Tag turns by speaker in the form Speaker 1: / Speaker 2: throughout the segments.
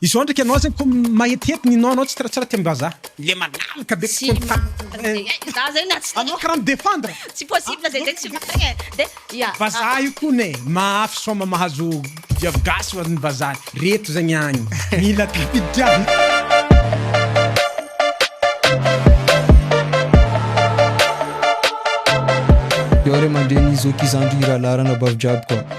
Speaker 1: Izao ndraiky anao zany ko mahetihety ny nom nao tsiratsira teo ambazaha. Le malalaka be tsy contact.
Speaker 2: Za zegny na tsy. Anao kara mi
Speaker 1: defendre. Tsy possible zay
Speaker 2: zegny s'il vous plait e. De ya. Vazaha io kony e,
Speaker 1: mahafy soma mahazo viavy gasy oa ny vazaha reto zegny agny. Mila tafiditra.
Speaker 3: Yao ray aman-dreny zoky zandry irahalahy ranabavy jiaby koa.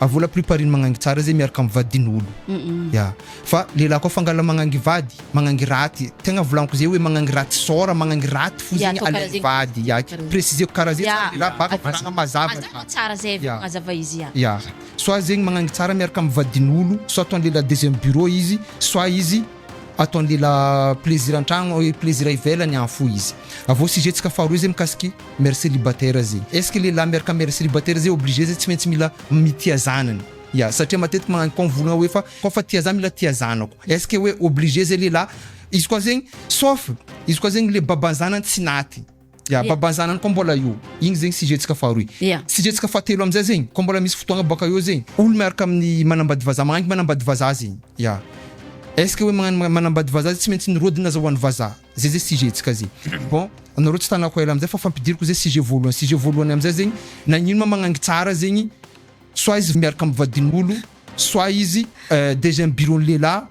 Speaker 3: a vola plus pariny magnangy tsara zay miaraka am vadin olo ya fa lehilahy koa fangala magnangy vady magnangy raty tegna volaniko zay oe magnangy raty sora magnangy raty fo zegny alaivo vady ya presizeko kara zay tsara lehilahy baka volagna mazava mazava tsara zay vao
Speaker 2: mazava izy ya ya soit
Speaker 3: zegny magnangy tsara miaraka am vadin olo soit ataon lehilahy deuxième bureau izy soit izy Ataon'ny lehilahy plaisir antragno et plaisir ivelany an fo izy. Avy eo sujet tsika faharoa zay mikasiky mère célibataire zay. Est ce que lehilahy miaraka mère célibataire zay obligé zay tsy maintsy mila mitia zanany? Ya, satria matetiky magnano point mivolagna hoe fa koa fa tia za mila tia zanako. Est ce que hoe obligé zay lehilahy? Izy koa zegny sauf izy koa zegny le baban'ny zanany tsy naty. Ya, yeah. babanzanany koa mbola io. Igny zegny sujet-tsika faharoy. Yeah. Sujet-tsika fahatelo amizay zegny, koa mbola misy fotoagna baka eo zegny, olo miaraka amin'ny manambady vazaha, magnangy manambady vazaha zegny. Ya. Est ce que hoe magnano manambady vazaha zegny tsy maintsy nirodana aza ho an'ny vazaha. Zay zay sujet-tsika zay. Bon, anareo tsy tanako ela amizay fa fampidiriko zay sujet voalohany. Sujet voalohany amizay zegny, nagnino ma magnangy tsara zegny, soit izy miaraka amin'ny vadin'olo, soit izy eh, dejà amin'ny bureau-n'ny lehilahy,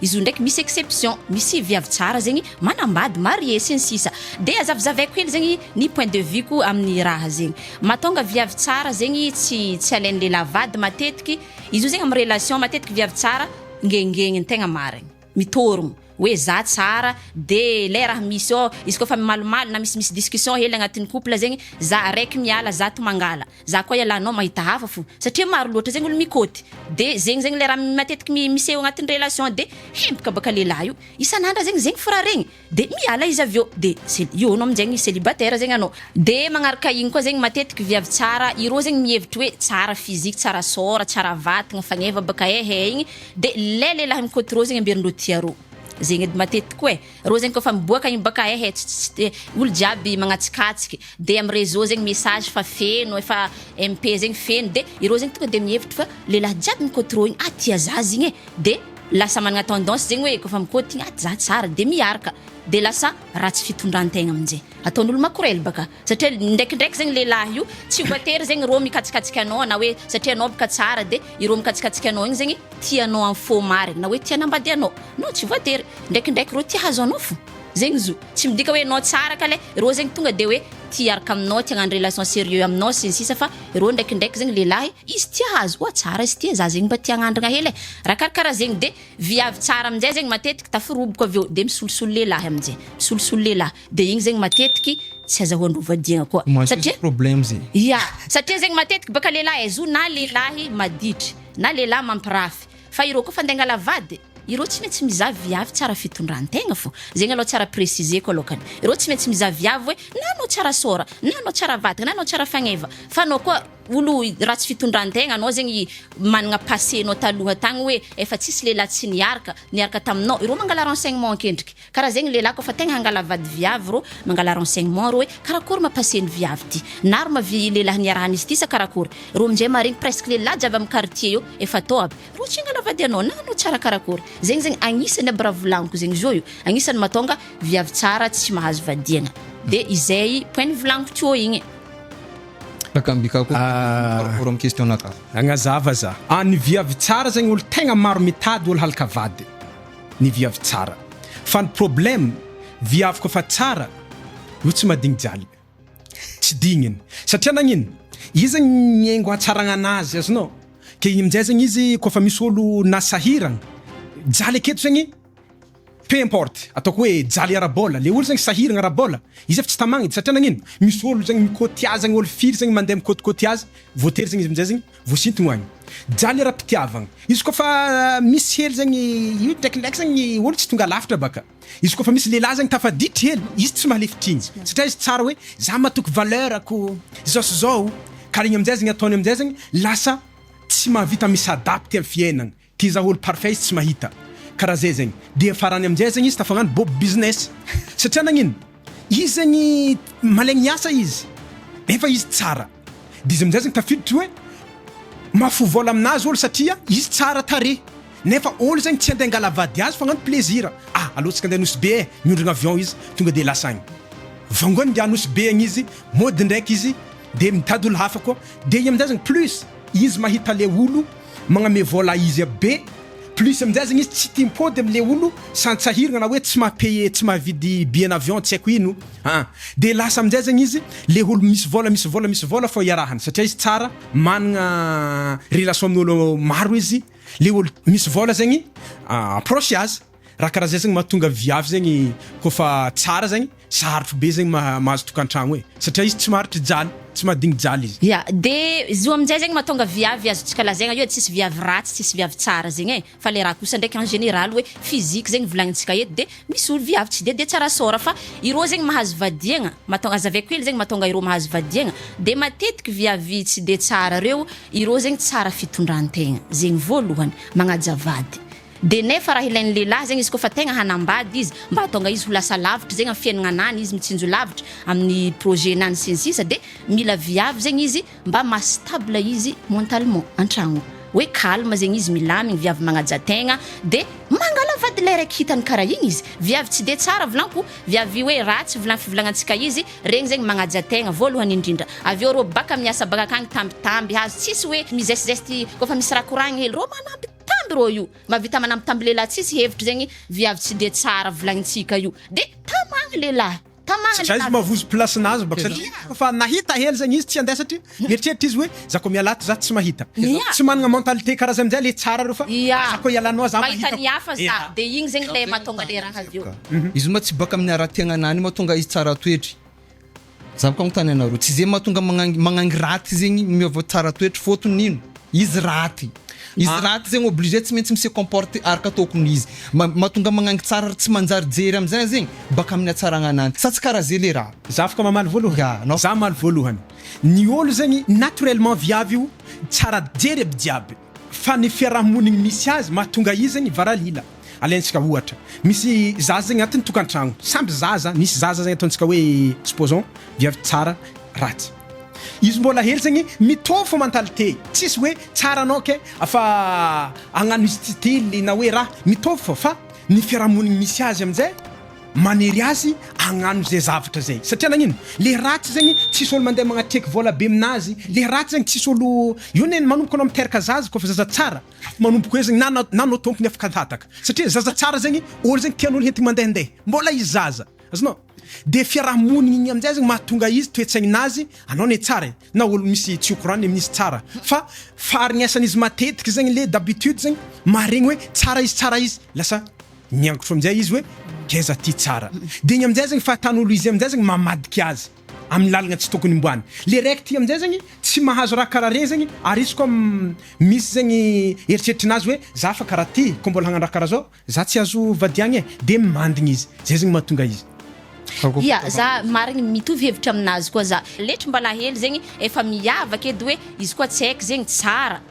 Speaker 2: Izy io ndraiky misy exception, misy viavy tsara zegny manambady, marié, sy ny sisa Dia azavizavaiko hely zegny ny point de vue ko amin'ny raha zegny. Mahatonga viavy tsara zegny tsy tsy alain'ny lehilahy vady matetiky, izy io zegny amin'ny relation matetiky viavy tsara ngengegny tegna marigny, mitôrogno hoe za tsara dia ilay raha misy ao, izy koa fa mimalimaly na misimisy discussion hely agnatin'ny couple zegny za araiky miala zato mangala. Za koa ialanao mahita hafa fo satria maro loatra zegny olo mikôty de zegny zegny le raha matetiky mi miseho agnatin'ny relation de hempaka baka lehilahy io isan'andra zegny zegny fo raha regny de miala izy avy eo de ce io anao aminjegny celibataire zegny anao de magnaraka igny koa zegny matetiky viavy tsara irô zegny mihevitry hoe tsara physique tsara sôra tsara vatagna fagneva baka ehe igny de le lehilahy mikôty rô zegny amberindreo tiarô zegny edy matetiky koa e. Rô zegny kôfa miboaka igny bôka ehe tsy tsy tsy olo jiaby magnatsikatsikk de am réseau zegny message fa feno efa MP zegny feno de irô zegny tonga de mihevitry fa lelah jiaby mikôty rô igny ah tia zah zigny e de lasa managna tendance zegny oe kôfa mikôty igny ah zah tsara de miarka de lasa ratsy fitondrantegna amnjay ataon'olo makorely baka. Satria ndraikindraiky zegny lehilahy io tsy voatery zegny rô mikatsikasika anao na hoe satria anao bôka tsara de irô mikatsikasika anao igny zegny tia anao am fô marigny na hoe tia anambady anao non tsy voatery ndraikindraiky rô tia hahazo anao fô zegny izy io tsy midika hoe anao tsara kale rô zegny tonga de hoe tia hiaraka aminao tia hagnano relation serieux aminao sy ny sisa fa rô ndraikindraiky zegny lehilahy izy tia hahazo oa tsara izy ity e za zegny mba tia hagnandragna hely e raha karakaraha zegny de viavy tsara am'jay zegny matetiky tafiroboko avy eo de misolosolo lehilahy am'jay misolosolo lehilahy. de igny zegny matetiky tsy azahoan'ireo vadiagna koa satria
Speaker 3: ya satria zegny
Speaker 2: matetiky baka lehilahy ezo na lehilahy maditry na lehilahy mampirafy fa ireo koa fa andeha angala vady ireo tsy maintsy mizaha viavy tsara fitondrantegna fô zegny aloha tsara préciser ko alokany ireo tsy maintsy mizaha viavy hoe na anao tsara sôra na anao tsara vatagna na anao tsara fagneva fa anao koa olo ratsy fitondrantegna anao zegny managna passé nao taloha tagny hoe efa tsisy lehilahy tsy niaraka niaraka taminao ireo mangala renseignement an-kendriky Ka raha zegny lehilahy kôfa tegna hangala vady viavy rô mangala renseignement rô hoe karakory ma passé ny viavy ty? Na ry ma vie lehilahy niarahan'izy ty sa karakory? Rô minjay maharegny presque lehilahy jiaby am quartier eo efa tô aby rô tsy hangala vady anao na anao tsara karakory? Zegny zegny agnisany aby raha volagniko zegny zo io agnisany mahatonga viavy tsara tsy mahazo vadiagna de izay point nivolagniko tiô igny.
Speaker 3: Agnazava za,
Speaker 1: a ny viavy tsara zegny olo tegna maro mitady olo halaka vady? ny viavy tsara fa ny problème viavy ko fa tsara no tsy madigny jaly tsy digniny satria nagnino izy miengo hatsaragnana azy azonao ke igny amizay zegny izy ko fa misy olo na sahiragna jaly aketo zegny peu importe ataoko hoe jaly ara-bola le olo zegny sahiragna ara-bola izy efa tsy tamagny satria nagnino misy olo zegny mi-cote azy agny olo firy zegny mande mi-cote cote azy voatery zegny izy amizay zegny Voasinto ho any jaly ara-pitiavagna. Izy koa fa misy hely zegny io drakindraiky zegny ny olo tsy tonga lavitra baka. Izy koa fa misy lehilahy zegny tafaditry hely, izy tsy mahalefy tsinjo. Satria izy tsara hoe za matoky valeur ko zao sy zao. Ka regny amizay zegny ataony amizay zegny lasa tsy mahavita mi-s'adapte am fiainagna. Ty zah olo parfait izy tsy mahita ka raha zay zegny dia farany aminjay zegny izy tafagnano bob business satria nagnino izy zegny malegny miasa izy nefa izy tsara dia izy aminjay zegny tafiditry hoe mahafoy vola aminazy olo satria izy tsara tarehy nefa olo zegny tsy ande angala vady azy fa agnano plaisir a alohatsika ande nosy be e miondrana avion izy tonga dia lasa agny vangony dia nosy be agny izy mody ndraiky izy dia mitady olo hafa koa dia igny aminjay zegny plus izy mahita le olo Magname vola izy be. Plus amin'izay zany izy tsy tia mipody amle olo santsahirigna na hoe tsy maha paye tsy mahavidy billet n'avion tsy aiko ino an! de lasa amin'izay zany izy le olo misy vola misy vola misy vola fô iarahany satria izy tsara managna relation amin'olo maro izy le olo misy vola zegny approche azy Raha karaha zay zegny mahatonga viavy zegny koa fa tsara zegny sarotro be zegny mahazo tokantragno e! Satria izy tsy maharitry jaly, tsy mahadigny jaly izy. Ya, de zio
Speaker 2: aminjay zegny mahatonga viavy azontsika lazaigna eo tsisy viavy ratsy tsisy viavy tsara zegny e! fa le raha kosa ndraiky en général hoe physique zegny volagnintsika eto de misy olo viavy tsy de de tsara sort fa irô zegny mahazo vadiagna mahatô- aza avy akely zegny mahatonga irô mahazo vadiagna de matetiky viavy tsy de tsara reo irô zegny tsara fitondrantegna zegny voalohany magnaja vady Dia nefa raha ilain'ny lehilahy zegny izy koa fa tegna hanambady izy mba hahatonga izy ho lasa lavitra zegny amin'ny fiainagnanany izy mitsinjo lavitra amin'ny projet nany sy ny sisa dia mila viavy zegny izy mba maha stable izy mentalement an-tragno hoe calme zegny izy milamigny viavy magnaja tegna dia mangala vady ilay raiky hitany karaha igny izy viavy tsy dia tsara volanko viavy hoe ratsy volan'ny fivolagnan-tsika izy regny zegny magnaja tegna voalohany indrindra avy eo rô baka miasa baka akagny tambitamby hazo tsisy hoe mizesizesty kôfa misy raha koragny hely rô manampy Tamby rô io mavita manamby tamby lehilahy tsisy hevitra zegny viavy tsy de tsara volagnitsika io de tamagna lehilahy tamagna lehilahy. Za izy mavozo
Speaker 1: place nazy bako satria efa nahita hely zegny izy tsy handeha satria mieritreritra izy hoe za ko miala ato za tsy mahita za tsy managna mentalite karaha zay amizay le tsara reo fa za ko ialanao za mahita ko ya
Speaker 2: de igny zegny le matonga le raha avy eo. Izy ma tsy baka
Speaker 3: amin'ny ara-piaignana any matonga izy tsara toetry. Zavoka agnontany anareo tsy ze mahatonga magnangy magnangy raty zegny miôva tsara toetra fôtony ino? Izy raty izy raty zegny obligé tsy maintsy mise comporte araka tôkony izy ma- mahatonga magnangy tsara ry tsy manjary jery amizay zegny baka aminy atsaragna ananjy sa tsy kara ze le raha? Zavoka mamaly voalohany. Nga
Speaker 1: anao. Za mamaly voalohany. Ny ôlo zegny naturellement viavy io tsara jery aby jiaby. Fa ny fiaraha-monigny misy azy mahatonga izy ny varalila. Alaintsika ohatra, misy zaza zegny agnatin'ny tokantragno, samby zaza, misy zaza zegny ataontsika hoe supposons viavy tsara, ratsy. Izy mbola hely zegny mitovy fô mentalité, tsisy hoe tsara anao ke fa agnano style na hoe raha, mitovy fô fa ny fiaraha-monigny misy azy amin'jay, manery azy agnano zay zavatra zay satria nagnino le ratsy zegny tsisy olo mandeha magnatreky vola be aminazy le ratsy zegny tsisy olo io ne manomboka anao miteraka zaza koa fa zaza tsara manomboka hoe zegny na na na anao tompony afaka tataka satria zaza tsara zegny olo zegny tian'olo hentiny mandehandeha mbola izy zaza azonao de fiarahamonigny igny amizay zegny mahatonga izy toetsaignin'azy anao ne tsara e na olo misy tsy okorany amin'izy tsara fa faharegnesan'izy matetiky zegny le d'habitude zegny maharegny hoe tsara izy tsara izy lasa Miangotro amin'izay izy hoe, Ngeza ty tsara. Dia iny amin'izay zany fahatan'olo izy amin'izay zany mamadika azy amin'ny lalagna tsy tokony homboany. Le raiky ty amin'izay zany tsy mahazo raha karaha regny zany ary izy koa misy zany eritreritry nazy hoe, za fa karaha ty koa mbola hagnano raha karaha zao za tsy azo vadiagna e. Dia mimandigny izy. Zay zany mahatonga izy. Ia,
Speaker 2: za marigny mitovy hevitra aminazy koa za. Letry mba lahelo zegny efa miavaka edy hoe izy koa tsy haiko zegny tsara.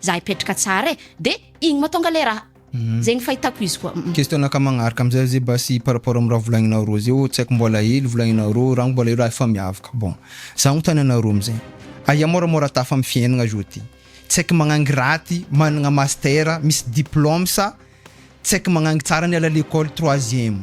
Speaker 2: Za hipetraka tsara e, de igny matonga le raha. Zegny fahitako izy koa. Question anaka magnaraka
Speaker 3: amizay ze basy par rapport am raha volagninao roa zeo tsy haiko mbola elo volagninao roa rangko mbola elo raha efa miavaka bon za agnontany anareo amizay aia moramora tafa am fiainagna zao ty tsy haiko magnangy raty managna master misy diplome sa tsy haiko magnangy tsara niala lekôly troisième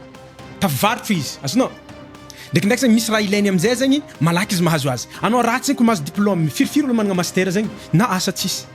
Speaker 1: Tafavarotra izy, azonao? Ndraikindraiky zegny misy raha ilainy amin'izay zegny, malaky izy mahazo azy. Anao ratsy zegny ko mahazo diplôme, firifiry olo managna master zegny na asa tsisy.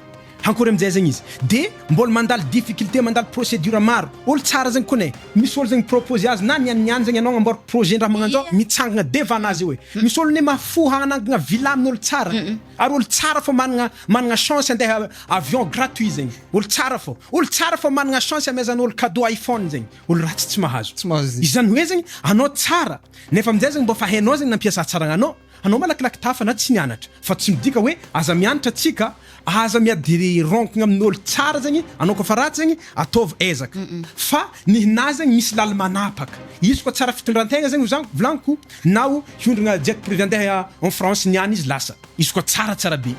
Speaker 1: Hankôry amin'izay zegny izy. De mbôla mandalo difficulté, mandalo procédure maro. Olo tsara zegny kone, misy olo zegny mi-propose azy na niany niany zegny anao agnamboary projet ndraha magnanzao, mitsangagna devant nazy eo e. Misy olo ne mahafoha hagnangagna villa amin'olo tsara. Ary olo tsara fô managna managna chance handeha avion gratuit zegny. Olo tsara fô. Olo tsara fô managna chance hamezan'olo cadeau iPhone zegny. Olo ratsy tsy mahazo. Tsy mahazo izay. Izany hoe zegny anao tsara nefa aminjay zegny mbô fa hainao zegny nampiasa hatsaragna anao. Anao malakilaky tafa na tsy nianatra. Fa tsy midika hoe aza mianatra tsika, aza miadironkigna amin'olo tsara zegny anao koa fa ratsy zegny ataovy ezaka. Fa ny hinahy zegny misy laly manapaka. Izy koa tsara fitondrantegna zegny zan- volagniko na o hiondragna jet privé andeha en France niany izy lasa. Izy koa tsara tsara be.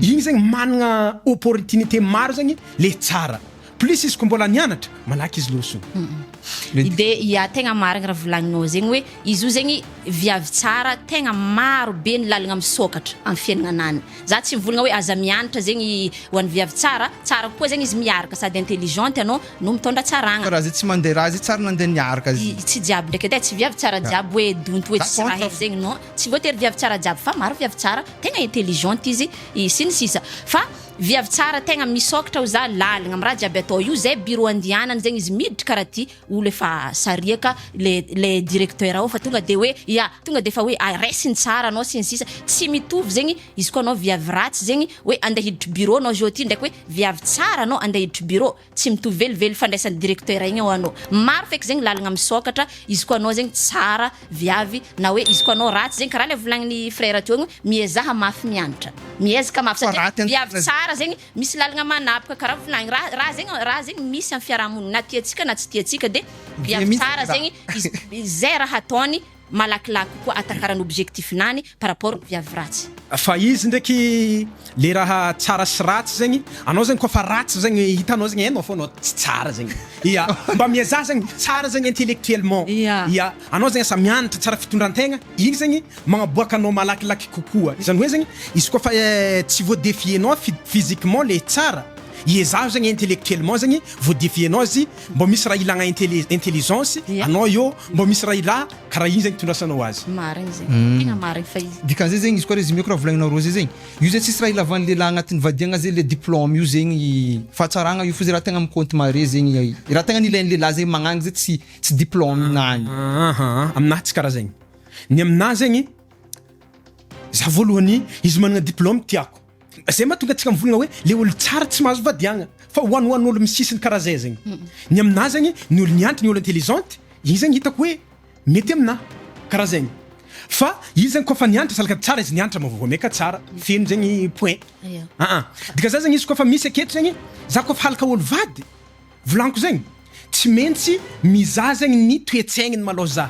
Speaker 1: Igny zegny managna opportunité maro zegny le tsara. Plus izy ko mbola nianatra malaky izy losona. Mety. Dia
Speaker 2: ya tegna marigny raha volagninao zegny hoe izy io zegny viavy tsara tegna maro be ny lalagna misôkatra am fiaignanany. Za tsy mivôlagna hoe aza mianatra zegny ho an'ny viavy tsara, tsara kokoa zegny izy miaraka sady intelligente anao no mitôndra tsaragna. Fa raha zay tsy mandeha raha zay
Speaker 3: tsary nandeha niaraka izy. Tsy jiaby ndraiky edy e, tsy
Speaker 2: viavy tsara jiaby hoe donto hoe tsisy raha hely zegny non, tsy voatery viavy tsara jiaby fa maro viavy tsara tegna intelligente izy sy ny sisa fa. Viavy tsara tegna misokatra o za laligna am raha jiaby atao io zay bureau andihanany zegny izy miditry kara ty olo efa sariaka le le directeur ao fa tonga de hoe ya tonga defa hoe a raisiny tsara anao sy ny sisa tsy mitovy zegny izy koa anao viavy ratsy zegny hoe ande hiditry bureau anao zao ty ndraiky hoe viavy tsara anao ande hiditry bureau Tsy mitovy velively fandraisan'ny directeur igny hoanao. Maro feky zegny lalagna misôkatra izy koa anao zegny tsara viavy na hoe izy koa anao ratsy zegny karaha le volagnin'i frère teo igny miezaha mafy mianatra. Miezaka mafy satria viavy tsara zegny misy lalagna manapaka karaha volagny ra raha zegny raha zegny misy amin'ny fiarahamonigny na tiantsika na tsy tiantsika de viavy tsara zegny izy izay raha ataony malakilaky kokoa atakarany objectif nany par rapport viavy ratsy. Fa izy ndraiky
Speaker 1: le raha tsara sy ratsy zegny anao zegny koa fa ratsy zegny hitanao zegny hainao fô anao tsy tsara zegny ya mba miezaha zegny ho tsara zegny intellectuellement ya anao zegny asa mianatra tsara fitondrantegna igny zegny magnaboaka anao malakilaky kokoa izany hoe zegny izy koa fa tsy voa defier nao physiquement le tsara iezaho zegny intellectuellement zegny voa defier nao izy Mbô misy raha ilagna intelli- intelligence Ia. anao eo, mbô misy raha ilà karaha igny zegny itondrasanao azy. Marigny zegny. Uhm. Tegna
Speaker 2: marigny fa izy. Dikan'izay zegny izy koa résumé koa
Speaker 3: raha volagninao roa zay zegny, io zay tsisy raha ilavan'ny lehilahy agnatin'ny vadiagna zay le diplôme io zegny fahatsaragna io fa zay raha tegna mi-compte mahare zegny i raha tegna nilain'ny lehilahy zay magnagny zay tsy tsy diplôme nany. Aha, aminahy tsy
Speaker 1: karaha zegny. Ny aminahy zegny, za voalohany izy managna diplôme tiako. Zay ma tonga tsika mivolagna hoe le olo tsara tsy mahazo vadiagna fa hoan hoan olo misisiny karaha zay zegny ny amina zegny ny olo niantry ny olo intelligente igny zegny hitako hoe mety amina karaha zegny fa izy zegny koa fa niantra salaka tsara izy niantra ma voa meka tsara feno zegny point aa dika za zegny izy koa fa misy aketo zegny za koa fa halaka olo vady Volaniko zegny tsy mentsy mizaha zegny ny toetsaigny malôha za.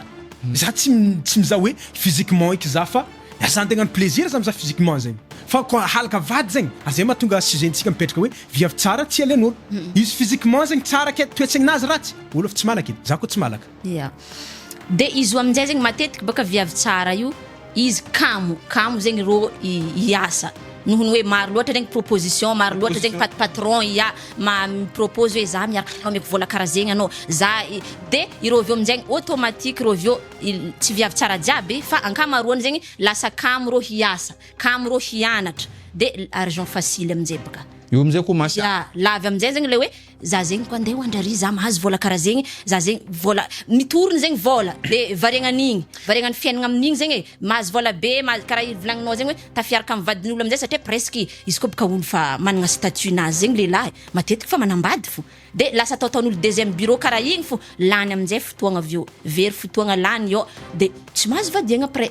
Speaker 1: Za tsy tsy mizaha hoe physiquement eky za fa za andeha agnano plaisir za mizaha physiquement zegny fa koa halaka vady zegny ary zay mahatonga sujet ntsika mipetraka hoe viavy tsara tsy alen'ôlo. Izy physiquement zegny tsara ke toetsaignazy ratsy ôlo efa tsy malaka e. Za koa tsy malaka. Ia.
Speaker 2: Dia izy io amin'izay zegny matetiky bôka viavy tsara io, izy kamo, kamo zegny rô hiasa noho ny hoe maro loatra regny proposition, maro loatra zegny pat- patron ia, ma- mi-propose hoe za miaraka aminao ameko vôla karaha zegny anao, za i- de ireo avy eo amin'jaigny automatique ireo avy eo il- tsy viavy tsara jiaby fa ankamaroany zegny lasa kamo rô hiasa, kamo rô hianatra de l- argent facile amin'jay bôka. Io amin'izay koa mas- Ia,
Speaker 3: lavy amin'jay
Speaker 2: zegny le hoe Za zegny ko andeha ho andraria za mahazo vola kara zegny za zegny vola mitoriny zegny vola de variagna an'igny variagna ny fiaignana amin'igny zegny e mahazo vola be mahazo kara i volagninao zegny hoe tafiaraka amy vadin'olo amizay satria presque izy ko boka olo fa managna statut nazy zegny lehilahy matetiky fa manambady fo de lasa atao ataon'olo deuxième bureau kara igny fo lany amizay fotoagna avy eo very fotoagna lany eo de tsy mahazo vadiagna après.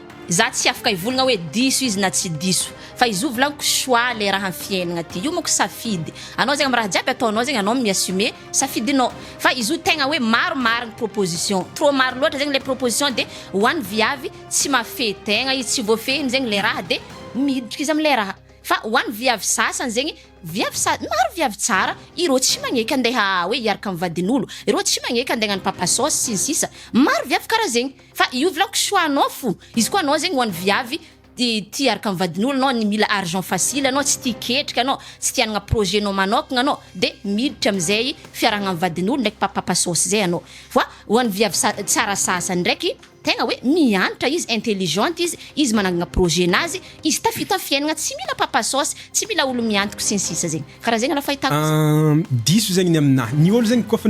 Speaker 2: Za tsy afaka hivolagna hoe diso izy na tsy diso fa izo volagniko choix le raha am fiaignagna ty io mako safidy anao zegny am raha jiaby ataonao zegny anao mi assumer safidinao fa izo tegna hoe maro marigny proposition trop maro loatra zegny le proposition de ho any viavy tsy mahafehy tegna izy tsy voafehiny zegny le raha de miditry izy amle raha fa ho any viavy sasany zegny viavy sa- maro viavy tsara ireo tsy magneky andeha hoe hiaraka am vadinolo ireo tsy magneky andeha agnano papa saosy sy ny sisa maro viavy kara zegny. Fa io vlog choix anao fo. Izy koa anao zegny ho an'ny viavy de tia araka ny vadin'olo anao ny mila argent facile anao tsy tia ketrika anao tsy tia hanagna projet nao manokagna anao de miditra amizay fiarahagna am vadin'olo ndraiky pa papa saosy zay anao fa ho an'ny viavy sa- tsara sasany ndraiky tegna hoe mianatra izy intelligente izy izy manangagna projet nazy izy tafita am fiaignana tsy mila papa saosy tsy mila olo miantoko sy ny sisa zegny karaha zegny aloha fahitako izy. Diso zegny ny
Speaker 1: aminahy, ny olo zegny koa fa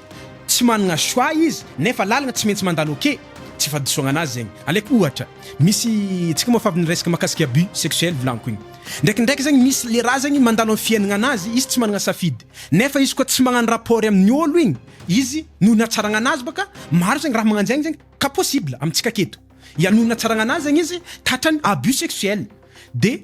Speaker 1: Tsy managna choix izy nefa lalagna tsy maintsy mandalo ok tsy fahadisoagna anazy zegny aleko ohatra misy tsika moa fa avy niresaka makasika abus sexuel volagniko igny ndraikindraiky zegny misy le raha zegny mandalo am fiainagna anazy izy tsy managna safidy nefa izy koa tsy magnano rapport amigny olo igny izy noho ny hatsaragna anazy baka maro zegny raha magnanjegny zegny ka possible amitsika aketo ya noho ny hatsaragna anazy zegny izy tatrany abus sexuel de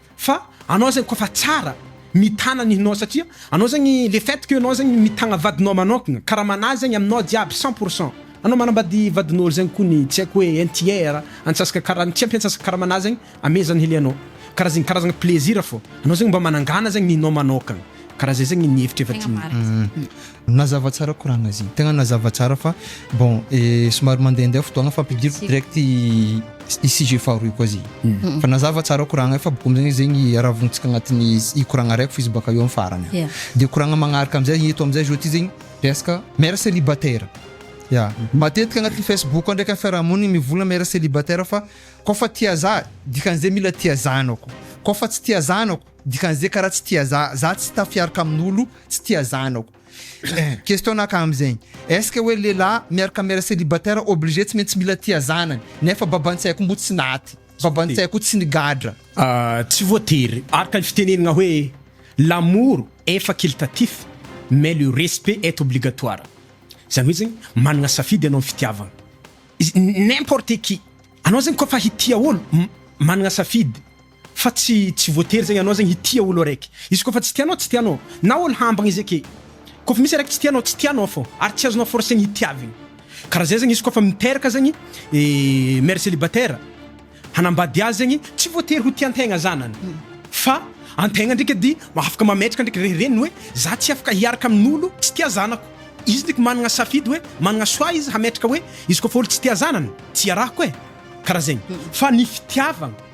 Speaker 1: Fa anao zegny koafa tsara mitana ny hinao satria anao zegny le fait que anao zegny mitagna vadinao manokagna karamana zegny aminao jiaby cent pour cent anao manambady vadin'olo zegny kony tsy aiko hoe un tiers antsasaka karany tsy ampy antsasaka karamana zegny ame zany hilianao kara zegny karazagna plaisir fô anao zegny mba manangana zegny ny hinao manokagna kara zay zegny ny hevitrefa ty Nazava
Speaker 3: tsara koragna zigny. Tegna nazava tsara fa bon somary mandehandeha fotoagna fa ampidiriko direct i sujet faharoy koa zigny. Fa nazava tsara koragna fa bôka amizay zegny aravognintsika agnatin'ny i koragna araiky f'izy baka eo am farany. Ya. De koragna magnaraka amizay eto amizay zao ty zegny resaka mère célibataire. Ya. Matetika agnatin'ny Facebook ao ndraiky am fiarahamonigny mivola mère célibataire fa kôfa tia zaza dikan'izay mila tia zanako, kôfa tsy tia zanako Dikan'izay karaha tsy tia za, za tsy tafiaraka amin'olo tsy tia zanako. Question naka amzegny, est-ce que hoe lehilahy miaraka mère célibataire obligé tsy maintsy mila tia zanany, nefa baban-tsay koa moa tsy naty, baban-tsay koa tsy nigadra. Tsy
Speaker 1: voatery, araka ny fitenenagna hoe l'amour est facultatif mais le respect est obligatoire, zany hoe zegny managna safidy anao am fitiavagna, n'importe qui, anao zegny koa fa hitia olo managna safidy, Fa tsy tsy voatery zegny anao zegny hitia olo araiky izy kôfa tsy tianao tsy tianao na olo hambagny izy ake kôfa misy araiky tsy tianao tsy tianao fô ary tsy azonao forcegny hitiavigny karaha zay zegny izy kôfa miteraka zegny mère célibataire hanambady azy zegny tsy voatery ho tiantegna zanany fa antegna ndreky edy afaka mametraka ndreky re reniny hoe za tsy afaka hiaraka amin'olo tsy tia zanako izy ndreky managna safidy hoe managna choix izy hametraka hoe izy kôfa olo tsy tia zanany tsy iarahako e karaha zegny fa ny fitiavagna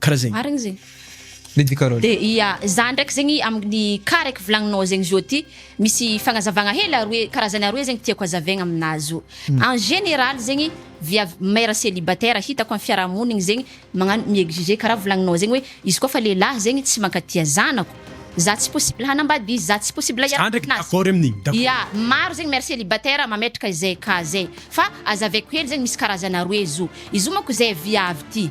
Speaker 1: Karaha zegny. Marigny zegny.
Speaker 2: Lady Carole.
Speaker 3: De ya za ndraiky
Speaker 2: zegny aminy cas raiky volagninao zegny zio ty misy fagnazavagna hely aroe karazany aroe zegny tiako hazavaigna aminazy zio en général zegny viavy mère célibataire hitako am fiarahamonigny zegny magnano mi-exiger karaha volagninao zegny hoe izy koa fa lehilahy zegny tsy mankatia zanako za tsy possible hanambady izy za tsy possible Za ndraiky hiara-mananasy d'accord amin'igny,
Speaker 1: d'accord. ya maro zegny mère
Speaker 2: célibataire mametraka izay cas zay fa azavaiko hely zegny misy karazany aroe zio izy io manko zay viavy ty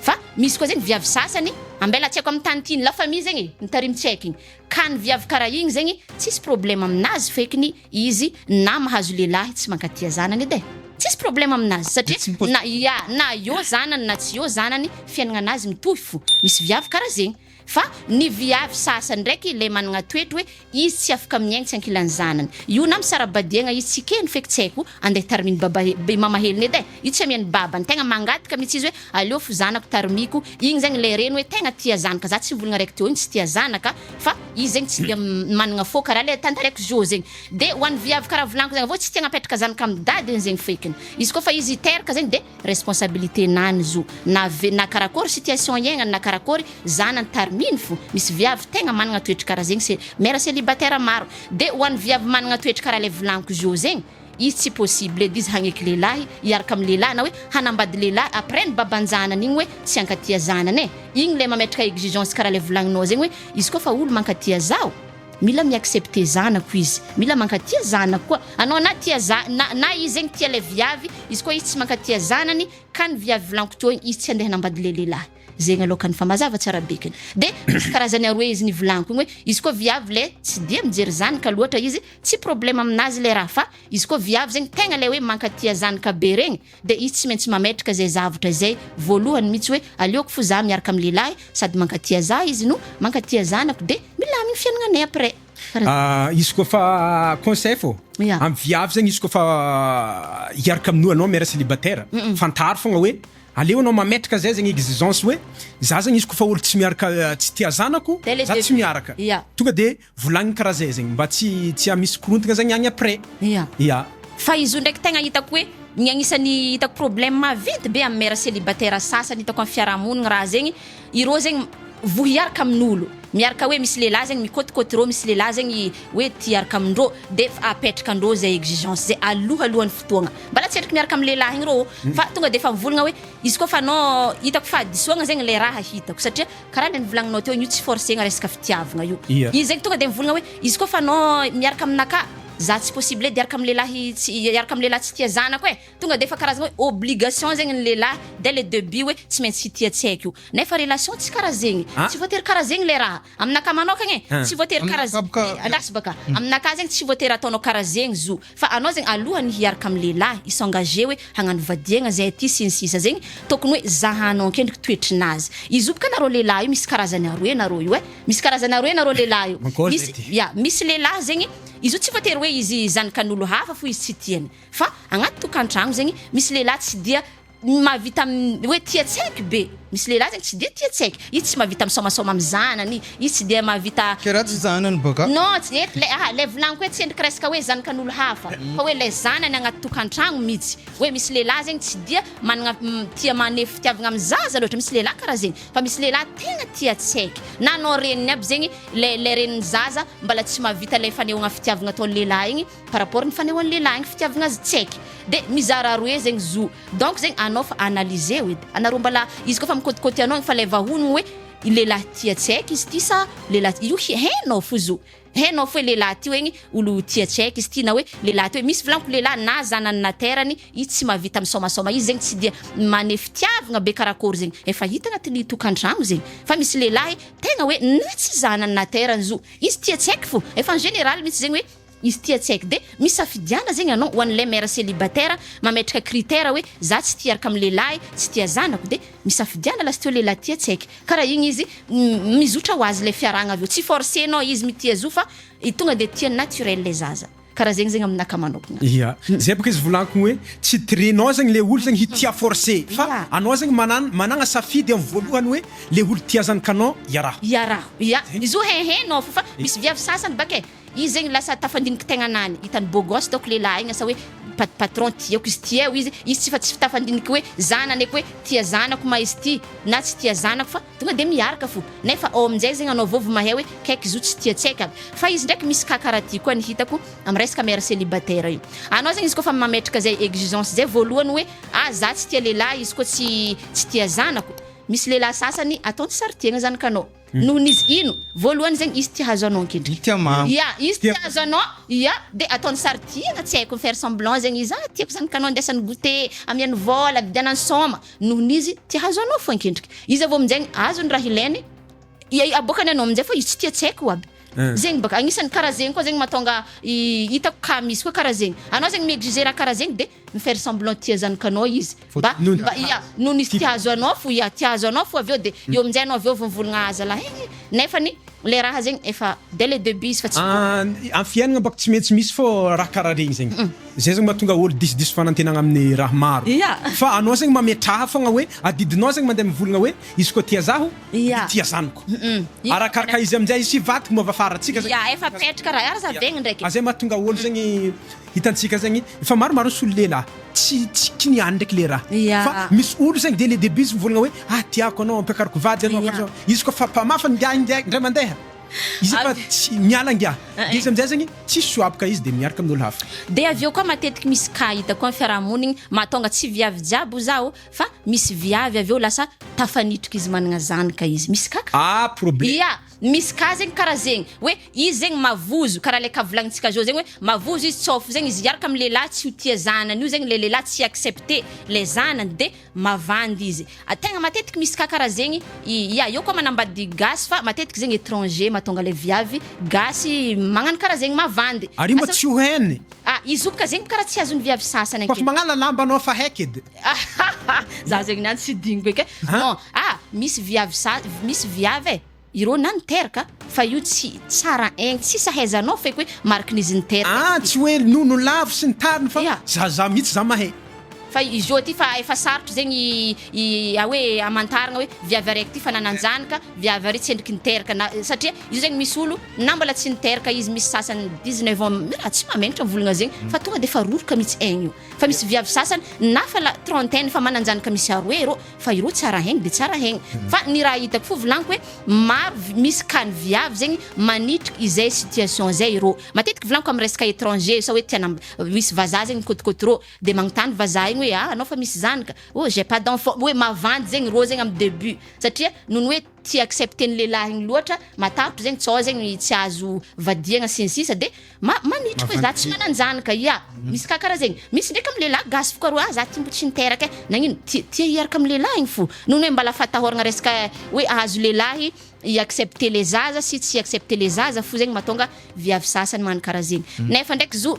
Speaker 2: Fa misy koa zegny viavy sasany ambela tsy haiko am tany tiany la famille zegny e mitarimy tsy haiko igny ka ny viavy karaha igny zegny tsisy problème aminazy fekiny izy na mahazo lehilahy tsy mankatia zanany edy e tsisy problème aminazy satria na ia na eo zanany na tsy eo zanany fiaignananazy mitohy fo misy viavy karaha zegny Fa ny viavy sasany ndraiky le managna toetry hoe izy tsy afaka miaigny tsy ankilan'ny zanany io na misara-badiagna izy tsy keny feky tsy haiko andeha tarimin'ny baba i mamahelony edy eh io tsy amian'ny babany tegna mangataka mitsy izy hoe aleofo zanako tarimiko igny zegny le reny hoe tegna tia zanaka za tsy mivolagna araiky teo igny tsy tia zanaka fa izy zegny tsy dia managna fô karaha le tantaraiko zo zegny de ho an'ny viavy karaha volaniko zegny avô tsy tia agnapetraka zanaka amin'ny dadiny zegny fekiny izy kôfa izy teraka zegny de responsabilité na ny zo na ve na karakory situation iaignany na karakory zanany tariminy fo misy viavy tegna managna toetry kara zegny se mère celibataire maro de ho an'ny viavy managna toetry kara le volagniko zo zegny izy tsy possible edy izy hagneky lehilahy hiaraka amy lehilahy na hoe hanambady lehilahy après ny baban-janany igny hoe tsy hankatia zanany e igny le mametraka exigence kara le volagninao zegny hoe izy koa fa olo mankatia zaho Mila mi-accepter zanako izy, mila mankatia zanako koa anao na tia za na na izy zegny tia lay viavy, izy koa izy tsy mankatia zanany ka ny viavy volanko teo igny izy tsy andeha hanambady lay lehilahy zegny alou ka ny fa mazava tsara be kany de misy karazany aroe izy ny volanko igny hoe izy koa viavy lay tsy dia mijery zanaka loatra izy tsy problème aminazy lay raha fa izy koa viavy zegny tegna lay hoe mankatia zanaka be regny dia izy tsy maintsy mametraka izay zavtra izay voalohany mitsy hoe aleoko fo za miaraka am lehilahy sady mankatia za izy no mankatia zanako dia milaminy fiainagnanay après fa izy koa
Speaker 1: fa conseil fô am viavy zegny izy koa fa hiaraka am noa anao mère célibataire fantaro fogna hoe aleo anao mametraka zay zegny exigence hoe za zegny izy koa fa olo tsy miaraka tsy tia zanako za tsy miaraka tonga de Volagny karaha zay zegny mba tsy tsy hamisy korontagna zegny agny après. Ia. Ia. Fa
Speaker 2: izy io ndraiky tegna hitako hoe ny agnisan'ny hitako problème maventy be amin'ny mère célibataire sasany hitako amin'ny fiarahamonigny raha zegny ireo zegny voa hiaraka amin'olo miaraka hoe misy lehilahy zegny mikôtikôty reo misy lehilahy zegny hoe tia hiaraka amindreo de efa apetraka andreo zay exigence zay alohalohan'ny fotoagna mbala tsy endriky miaraka amin'ny lehilahy igny reo ô fa tonga de efa mivolagna hoe izy koa fa non hitako fahadisoagna zegny le raha hitako satria Karaha le nivolaninao teo io tsy forcegna resaka fitiavagna io. Ia. Izy zegny tonga de mivolagna hoe izy koa fa no miaraka aminakà za tsy possible edy hiaraka am lehilahy tsy hiaraka am lehilahy tsy tia zanako e tonga defa karazagna hoe obligation zegny ny lehilahy dès le debut hoe tsy maintsy hitia tsy haiko io nefa relation tsy karaha zegny Ah. tsy voatery karaha zegny le raha aminakà manokagna e Ah. tsy voatery karaha Aminakà boka- andraso baka aminakà zegny tsy voatery ataonao karaha zegny zo Fa anao zegny alohany hiaraka am lehilahy hi s'engager hoe hagnano vadiagna zay aty sy ny sisa zegny tokony hoe zahanao ankendriky toetrinazy izy io bka nareo lehilahy io misy karazany aroe nareo io e misy karazany aroe nareo lehilahy io misy ya misy lehilahy zegny izy io tsy voatery hoe izy zanakan'olo hafa fo izy tsy tiany fa agnaty tokantragno zegny misy lehilahy tsy dia Ny mahavita amin'ny hoe tia tsy haiko be, misy lehilahy zany tsy dia tia tsy haiko, izy tsy mahavita misaomasaoma amin'ny zanany, izy tsy dia mahavita. Kay ratsy zanany ba
Speaker 3: ka. Non, tsy eto lay, aha,
Speaker 2: lay volaniko hoe tsy endrika resaka hoe zanakan'olo hafa, fa hoe lay zanany agnaty tokantragno mitsy, hoe misy lehilahy zegny tsy dia managna tia maneho fitiavagna amin'ny zaza loatra, misy lehilahy karaha zegny, fa misy lehilahy tegna tia tsy haiko, na anao reniny aby zegny, lay lay renin'ny zaza mbala tsy mahavita lay fanehoagna fitiavagna ataon'ny lehilahy igny, par rapport ny fanehoan'ny lehilahy ny fitiavagna azy tsy haiky de mizara aroe zegny zo donc zegny anao fa analyser-o edy anareo mbala izy koa fa mikôtikôty anao fa lay vahogno hoe i lehilahy tia tsy haiky izy ty sa lehilahy io hainao fo zo hainao fo hoe lehilahy ty hoegny olo tia tsy haiky izy ty na hoe lehilahy ty hoe misy volagniko lehilahy na zanany na terany i tsy mahavita misaomasaoma izy zegny tsy dia maneho fitiavagna be karakôry zegny efa hita agnatin'ny tokantragno zegny fa misy lehilahy tegna hoe na tsy zanany na terany zo izy tia tsy haiky fo efa en général mintsy zegny hoe Izy tia tsy haiko. De misafidiana zegny anao ho an'ilay mère célibataire mametraka critère hoe za tsy tia hiaraka amin'ny lehilahy, tsy tia zanako de misafidiana lasteo lehilahy tia tsy haiko. Karaha igny izy mizotra ho azy ilay fiarahagna avy eo. Tsy force-nao izy mitia zo fa tonga de tia naturel ilay zaza. Karaha zegny zegny aminakahy manokagna. Ia. Zay bôka izy
Speaker 1: volagniko hoe tsy tirenao zegny le olo zegny hitia force fa anao zegny manan- managna safidy amin'ny voalohany hoe le olo tia zanakanao iaraho. Iaraho. Ia. Izy io hein hein nao fo fa misy viavy sasany baka e Izy zegny lasa tafandiniky tegnana any, hitany beau gosse donc lehilahy igny asa hoe pat patron tiako izy tia eo izy, izy tsy fa tsy tafandiniky hoe za nanaiky hoe tia zanako ma izy ty na tsy tia zanako fa tonga de miaraka fo nefa ao aminjay zegny anao vao vao mahay hoe kaiky zo tsy tia tsaika fa izy ndraiky misy cas karaha ty koa ny hitako am resaka mère celibataire io anao zegny izy koa fa mametraka zay exigence zay voalohany hoe ah za tsy tia lehilahy izy koa tsy tsy tia zanako misy lehilahy sasany ataony sary tiagna zanakanao Nohon' izy ino? Voalohany zegny izy tia hahazo anao ankendrey. Tia maha. Ia, izy tia hahazo anao, ia, dia ataony sary tia na tsy haiko mi-faire semblant zegny izy, ah tiako zany kanao andeasany goûter, amiany vôla, vidianany sôma, nohon' izy tia hahazo anao fo ankendriky. Izy avy eo amin-jaigny azony raha ilainy, ia, aboakany anao amin-jay fa izy tsy tia tsy haiko aby. Zegny baka, agnisany karaha zegny koa zegny mahatonga i, hitako kah misy koa karaha zegny, anao zegny mi-exiger raha karaha zegny dia. mi faire semblant tia zanaka anao izy mba mba ia no nisy tia azo anao fo ia tia azo anao fo avy eo de eo amin'jay anao avy eo vonvologna ah zalahy eh nefany le raha zegny efa dès le debut izy fa tsy An am fiainagna bôka tsy maintsy misy fô raha karaha regny zegny zay zegny mahatonga ôlo disidiso fanantenagna amin'ny raha maro Ia fa anao zegny mametraha fôgna hoe adidinao zegny mandeha mivolagna hoe izy koa tia zaho Ia de tia zanako Ia arakaraka izy amin'jay sy vadiko moa avy afara tsika zegny Ia efa apetraka raha
Speaker 2: ary zavegny ndraiky ah zay mahatonga ôlo zegny
Speaker 1: Hitantsika zegny fa maromaro ny solilelahy tsy tsy kiniany ndraiky le raha Ya. fa misy olo zegny dès le début izy mivolagna hoe ah tiako anao ampiakariko vady anao Ya. izy koa fa mpamafa ngiahy ngiahy ndray mandeha izy efa Avy- tsy miala ngiahy Eh, de izy eh. amizay zegny tsisy soaboka izy de miaraka amin'olo hafa. Dia avy eo koa matetiky
Speaker 2: misy cas hitako amin'ny fiarahamonigny mahatonga tsy viavy jiaby ho zaho fa misy viavy avy eo lasa tafanitoky izy managna zanaka izy misy kaka Ah problème. Ya.
Speaker 1: Misy ka zegny
Speaker 2: kara zegny hoe izy zegny mavozo kara le ka volagnintsika zao zegny hoe mavozo izy tsôfo zegny izy hiaraka am lelah tsy ho tia zanany io zegny le lelah tsy accepte le zanany de mavandy izy a tegna matetiky misy ka kara zegny ya eo koa manambady gasy fa matetiky zegny etranger matonga le viavy gasy magnano kara zegny mavandy Ary io mba tsy ho hainy.
Speaker 1: Ah izy io ka zegny
Speaker 2: kara tsy azony viavy sasany ake. Koafa magnala lamba anao
Speaker 1: fa haiky edy. Za
Speaker 2: zegny niany tsy diniko eky e. Non, ah misy viavy sa misy viavy e, ireo na niteraka fa io tsy tsara aigny, tsy sahaizanao feky hoe marikin'izy niteraka izy Ah ty. tsy hoe nono
Speaker 1: lavo sy ny tariny fa Ya. zaza mitsy za mahay. Fa izy io aty
Speaker 2: fa efa sarotra zegny i a hoe amantaragna hoe viavy araiky ty fa nanan-janaka, viavy ary tsendriky niteraka na satria io zegny misy olo na mbola tsy niteraka izy misy sasany dix neuf ans mila tsy mamegnatra volagna zegny fa tonga de efa roroka mitsy aigny io. Fa misy viavy sasany na fa la trentaine fa mananjany ka misy aroe ero fa ireo tsara haigny de tsara haigny fa ny raha hitako fo volagniko hoe maro misy ka ny viavy zegny manitriky izay situation zay ero matetiky volagniko amy resaka etranger sa hoe tia nam- misy vazaha zegny mikotikoty ro de magnontany vazaha igny hoe ah anao fa misy zany ka oh j'ai pas d'enfant hoe mavandy zegny ro zegny amy debut satria noho ny hoe tsy accepter ny lehilahy igny loatra, matahotro zegny, sao zegny tsy azo vadiagna sy ny sisa de ma- manitriky hoe za tsy manan-jany ka, ya misy ka karaha zegny, misy ndraiky amin'ny lehilahy gasy fo ka rô ah za ty mbo tsy niteraka e, nagnino, ti- tia hiaraka amin'ny lehilahy igny fo, noho ny hoe mbala fatahoragna resaka hoe ahazo lehilahy i accepter le zaza sy tsy accepter le zaza fo zegny mahatonga viavy sasany magnano karaha zegny, nefa ndraiky zo.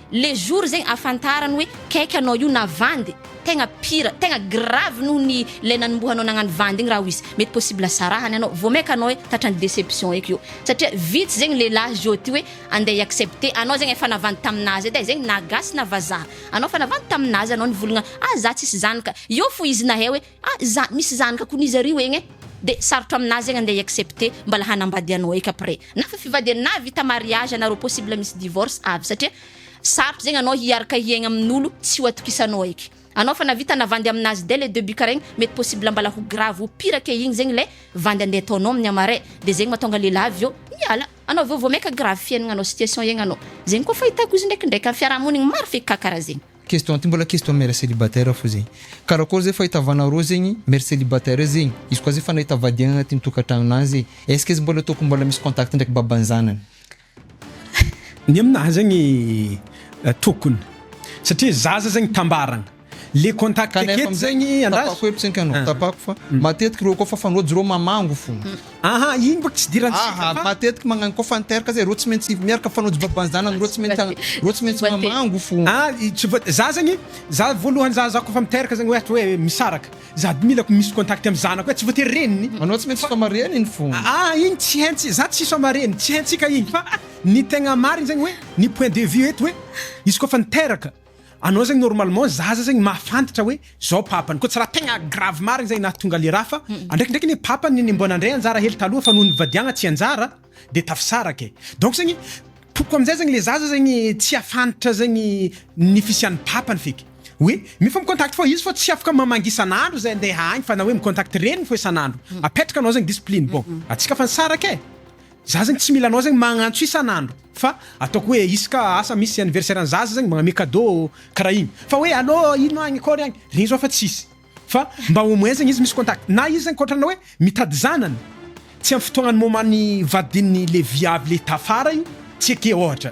Speaker 2: Le jour zegny afantarany hoe kaiky anao io na vandy tegna pire tegna grave noho ny le nanombohanao nagnano vandy igny raha oizy mety possible sarahany anao vao maika anao hoe tratran'ny déception eky io satria vitsy zegny lehilahy zao aty hoe andeha hi accepter anao zegny efa navandy tamin'azy edy e zegny na gasy na vazaha anao efa navandy tamin'azy anao nivolagna ah za tsisy zany ka eo fo izy nahay hoe Ah za misy zanaka kony izy ario egn eh de sarotra aminazy egn andeha hi-accepte mbala hanambady anao eky après na fa fivadian na vita mariage anareo possible misy divorce avy satria sarotra zegny anao hiaraka hiaigna amin'olo tsy ho atokisanao eky anao fa na vita na vandy aminazy dès le debut kara igny mety possible mbala ho grave ho pire ke igny zegny le vandy andeha ataonao amin'ny amare de zegny matonga lehilahy avy eo miala anao avy eo vao maika grave fiaignanao situation iaignanao zegny koa fahitako izy ndraikindraiky am fiarahamonigny maro feky ka kara zegny. Question ty mbola question
Speaker 3: mère celibataire fo zegny karakory zay fahitavana rô zegny mère celibataire zegny izy koa zay fa nahita vady egny agnatin'ny tokantragnonany zay est-ce que izy mbola ataoko mbola misy contact ndraiky baban'ny zanany?
Speaker 1: Ny aminahy zegny tokony satria zaza zegny tambaragna le contact eto zegny andraso. Tapako hevitry anka anao
Speaker 3: tapako fa matetiky reo koa fa fanojo reo mamango fo Aha, iny mba
Speaker 1: ksidirantsika fa. Aha, matetika magnano koa fan
Speaker 3: terka zay, reo tsy maintsy miaraka mifanojo baban'ny zanany, reo tsy maintsy reo tsy maintsy mamango fo. Ah, tsy voate-, za zany,
Speaker 1: za voalohany za za koa fa miteraka zany ohatra hoe misaraka, za milako misy contact amin'ny zanako hoe tsy voatery reniny, Anao tsy maintsy soamarihany
Speaker 3: iny fo. Aha, iny tsy haintsika,
Speaker 1: za tsy soamarihany, tsy haintsika iny fa ny tegna marigny zany hoe ny point de vue eto hoe izy koa fa niteraka, Anao zegny normalement zaza zegny mahafantatra hoe zao papany koa tsy raha tegna grave marigny zay nahatonga le raha fa andraikindraiky anie papany ny mbo nandray anjara hely taloha fa noho nivadiagna tsy anjara de tafisaraka e donc zegny tokoko amizay zegny le zaza zegny tsy hafantatra zegny ny fisian'ny papany feky hoe efa mi-contact fô izy fô tsy afaka mamangy isan'andro zay andeha agny fa na hoe mi-contact reniny fô isan'andro apetraka anao zegny discipline bon atsika fa nisaraka e Za zegny tsy mila anao zegny magnantso isan'andro fa ataoko hoe isaka asa misy anniversaire an'i zaza zegny magname cadeau karaha igny fa hoe allo ino agny akôry agny regny zao efa tsisy fa mba au moins zegny izy misy contact na izy zegny kôtrana hoe mitady zanany tsy am fotoagnan'ny moment-n'ny vadin'ny le viavy le tafara igny tsy eke ôhatra.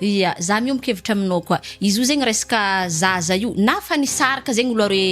Speaker 1: Ia,
Speaker 2: za miombon-kevitra aminao koa. Izy io zegny resaka zaza io na fa nisaraka zegny olo re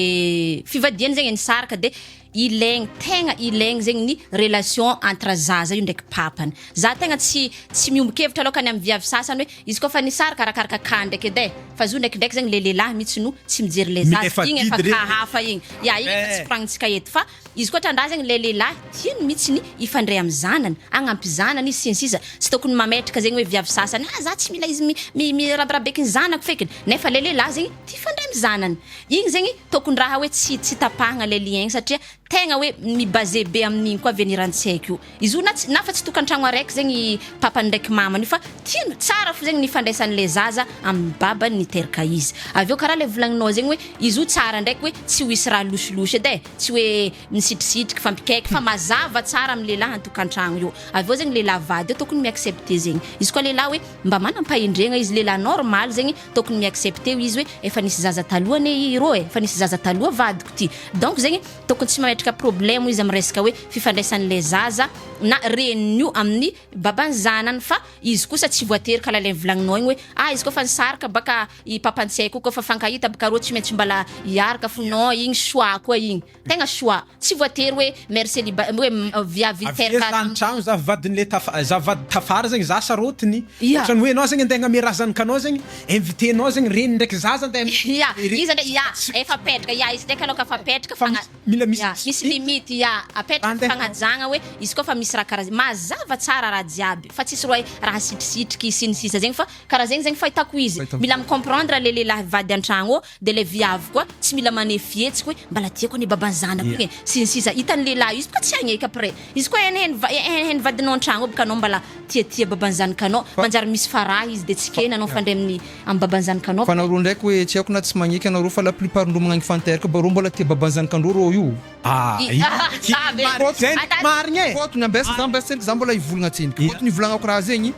Speaker 2: fivadiany zegny e nisaraka de ilaigny tegna ilaigny zegny ny relation entre zaza io ndraiky papany. Za tegna tsy tsy miombon-kevitra alôka ny amin'ny viavy sasany hoe izy kaofa nisaraka arakaraka cas ndraiky edy e fa zio ndraikindraiky zegny le lehilahy mihitsy no tsy mijery le zaza, igny efa cas hafa igny. Ia, igny efa tsy koragnintsika eto fa. Izy koa tandrazagny ilay lehilahy hino mitsy ny hifandray am zanany, hagnampy zanany izy sy ny sisa Tsy tokony mametraka zegny hoe viavy sasany ah za tsy mila izy mirabirabeky ny zanako fekiny nefa ilay lehilahy zegny tia hifandray am zanany Igny zegny tokony raha hoe tsy tapahagna ilay lien igny satria tegna hoe mi baser be amin'igny koa avenir antsika io. Izy io na tsy na fa tsy tokantragno araiky zegny i papany ndraiky mamany io fa tiany tsara fo zegny ny ifandraisan'ny le zaza amin'ny babany niteraka izy. Avy eo karaha le volagninao zegny hoe izy io tsara ndraiky hoe tsy ho hisy raha losilosy edy e, tsy hoe misitrisitriky, fampikaiky fa mazava tsara amin'ny lehilahy an-tokantragno io. Avy eo zegny lehilahy vady io tokony mi-accepter zegny. Izy koa lehilahy hoe mba manam-pahendregna izy, lehilahy normal zegny tokony mi-accepter ho izy hoe efa nisy zaza taloha anie i ro e, efa nisy zaza taloha vadiko ty. Donc zegny. Tokony tsy mametraka problemo izy amin'ny resaka hoe fifandraisan'ilay zaza na reniny io amin'ny baban'ny zanany fa izy kosa tsy voatery kala ilay volagninao igny hoe ah izy koa fa nisaraka ba ka i papan'i tsiay koa koa fa fankahita ba ka rô tsy maintsy mbala hiaraka fo non igny choix koa igny tegna choix tsy voatery hoe mère celiba hoe viavy avy teraka aiza any tragno za vadin'le
Speaker 1: taf- za vady tafara zegny za sarotiny Ia. ohatrany hoe anao zegny andeha hagname razan'kanao zegny Inviter nao zegny reny ndraiky zaza nde am Ia, izy anie ia,
Speaker 2: efa petraka ia, izy ndraiky aloha ka fa petraka fa Fagna, mila misy ia,
Speaker 1: misy limite. limite
Speaker 2: ia, apetraka ny fagnajagna hoe izy koa fa misy raha karaha zegny, mazava tsara raha jiaby fa tsisy roe raha sitrisitriky sy ny sisa zegny fa karaha zegny zegny fahitako izy, mila mi-comprendre le lehilahy vady an-tragno ô, Dia ilay viavy koa tsy mila maneho fihetsika hoe mbala tiako anie baban'ny zanako iny e, sy ny sisa Hitan'ny lehilahy io, izy bôka tsy hagneky après Izy koa hainy hainy va- hainy hainy vadinao an-tragno ao bôka anao mbala tia tia baban'ny zanakanao Manjary misy faraha izy dia tsy kena anao mifandray amin'ny amin'ny baban'ny zanakanao Fa narô ndraiky hoe
Speaker 3: tsy haiko na tsy magneky anarô fa la plupart ndrô magnagny fan teraka ba rô mbola tia baban'ny zanakandrô rô io ah I- ah ah be Zendriky marigny e! Fôtony ambesa za ambesa tsendriky za mbola hivolagna tsendriky Fôtony ivolagnako raha zegny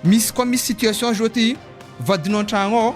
Speaker 3: misy koa misy situation zao ty vadinao an-tragno ao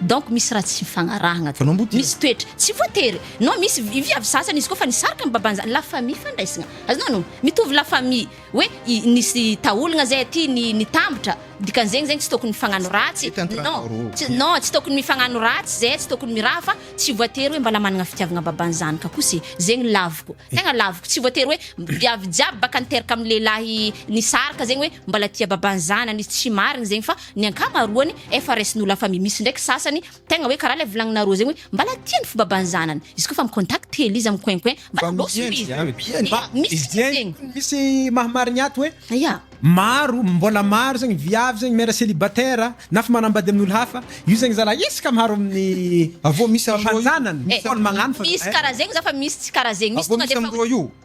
Speaker 2: Donc misy raha tsy mifagnarahagna aty. Anao mbo tia. Misy toetra. Tsy voatery. Non misy vi- viavy sasany izy koa fa nisarika ny babany zany. La famille fandraisagna. Azonao no? Mitovy la famille. Hoe i- nisy taolagna zay aty ni- nitambatra. Dikan'zegny zegny tsy tokony mifagnano ratsy. Mety entre Non. anao roa. Tsy non tsy tokony mifagnano ratsy zay, tsy tokony miraha fa tsy voatery hoe mbala managna fitiavagna babany zany ka koa se. Zegny laviko. Tegna laviko. Tsy voatery hoe viavy jiaby baka niteraka am lehilahy nisaraka zegny hoe mbala tia babany zanany izy. Tsy marigny zegny fa Ny ankamaroany efa raisin'olo hafa mi misy ndraiky sasany tegna hoe karaha le volagninareo zegny hoe mbala tia ny fobaban'ny zanany izy koa fa mi contact hely izy am coin coin mbala lôso be izy mba misy zegny
Speaker 1: misy maha marigny ato hoe ya maro
Speaker 2: mbola
Speaker 1: maro zegny viavy zegny mère célibataire na fa manambady amin'olo hafa io zegny zalah izy ka maro amin'ny avy eo misy
Speaker 3: amindreo io
Speaker 1: misy karaha zegny za fa
Speaker 2: misy tsy karaha zegny misy tonga de efa.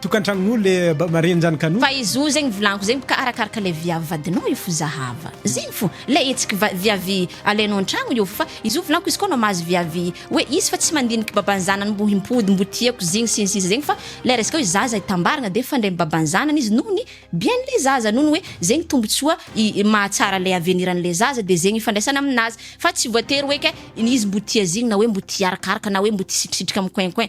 Speaker 1: Tokantragnole maregny zany kano. Fa izy io zegny volaniko
Speaker 2: zegny bka arakaraka le viavy vadinao io fo zahava zegny fo le hetsiky va viavy alainao antragno io fo fa izy io volaniko izy koa anao mahazo viavy hoe izy fa tsy mandiniky baban'ny zanany mbo himpody mbo tiako zegny sy ny sisa zegny fa le resaka hoe zaza hitambaragna de fandre baban'ny zanany izy noho ny bien le zaza noho ny hoe zegny tombotsoa i mahatsara le aveniran'le zaza de zegny ifandraisana aminazy fa tsy voatery hoe ke izy mbo tia zegny na hoe mbo tia arakaraka na hoe mbo tia sitrisitrika micoin coin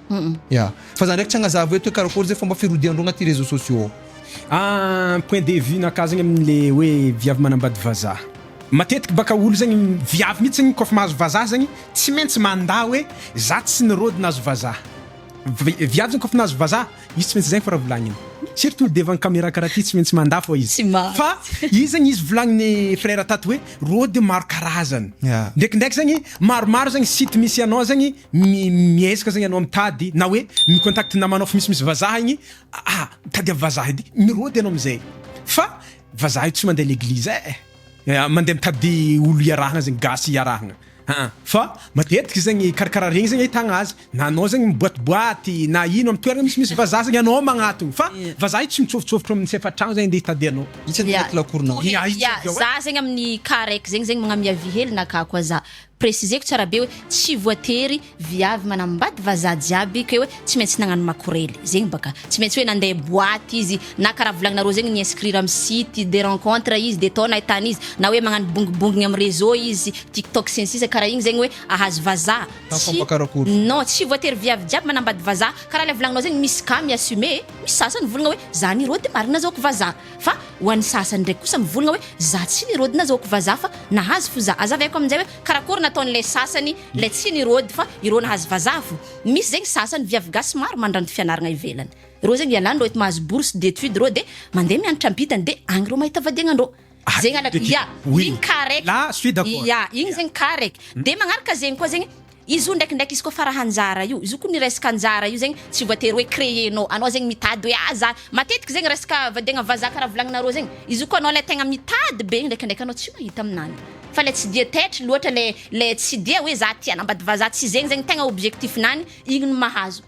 Speaker 3: Ya. Fa za ndraiky tsy agnazava eto hoe karakory zay fomba firodian-dreo agnaty réseaux sociaux ao.
Speaker 1: Point de vue nakah zegny amin le hoe viavy manambady vazaha. Matetiky baka olo zegny viavy mitsy zegny kôfa mahazo vazaha zegny tsy maintsy mandà hoe za tsy nirôdy nahazo vazaha. Viavy zegny kôfa nahazo vazaha izy tsy maintsy zegny fô raha volagniny. Surtout devant camera karaha ty tsy maintsy mandà fô izy. Fa izy zegny izy volagniny frère tato hoe rôdy maro karazany. Ndraikindraiky zegny maromaro zegny site misy anao zegny mi miezaka zegny anao mitady na hoe mi contact namanao fa misy misy vazaha igny ah mitady am vazaha edy mirody anao amizay fa vazaha io tsy mande l'église eh mande mitady olo iarahana zegny gasy iarahana aa fa matetiky zegny karakara regny zegny ahitagna azy na anao zegny miboatiboaty na ino am toerana misy misy vazaha zegny anao magnatogny fa vazaha io tsy mitsofotsofotra am sefatragno zegny nde hitady anao Itsy anaty lakoronao. Ia,
Speaker 2: za zegny amin'ny cas raiky zegny zegny magnamia vy hely nakako aza Presizeko tsara be hoe tsy voatery viavy manambady vazaha jiaby ke hoe tsy maintsy nagnano makorely zegny baka tsy maintsy hoe nandeha boite izy na karaha volagninareo zegny ni inscrire am site de rencontre izy de tao nahitany izy na hoe magnano bongibongigny am réseau izy tiktok sy ny sisa karaha igny zegny hoe ahazo vazaha tsy non tsy voatery viavy jiaby manambady vazaha karaha le volagninao zegny misy cas mi assumer misy sasany volagna hoe za ni rô de marigny nazahoako vazaha. Fa ho an'ny sasany indray kosa mivolagna hoe za tsy nirôdy na zaoko vazaha fa nahazo fo za. Azava aiko amin'jay hoe karakory nataon'ilay sasany ilay tsy nirôdy fa irô nahazo vazaha fo. Misy zegny sasany viavy gasy maro mandranto fianaragna ivelany. Rô zegny ialany rô eto mahazo bourse d'étude rô de mandeha mianatra ampitany de agny rô mahita vady agnandrô. Zegny alaka, ya, igny cas araiky, ya, igny zegny cas araiky. De magnaraka zegny koa zegny. Izy io ndraikindraiky izy koa fa raha anjara io, izy io koa ny resaka anjara io zegny tsy voatery hoe créer nao, anao zegny mitady hoe ah za, matetiky zegny resaka vadiagna vazaha karaha volagninareo zegny, izy io koa anao le tegna mitady be ndraikindraiky anao tsy mahita aminany, fa le tsy dia taitry loatra le le tsy dia hoe za tia hanambady vazaha tsy zegny zegny tegna objectif-nany igny no mahazo.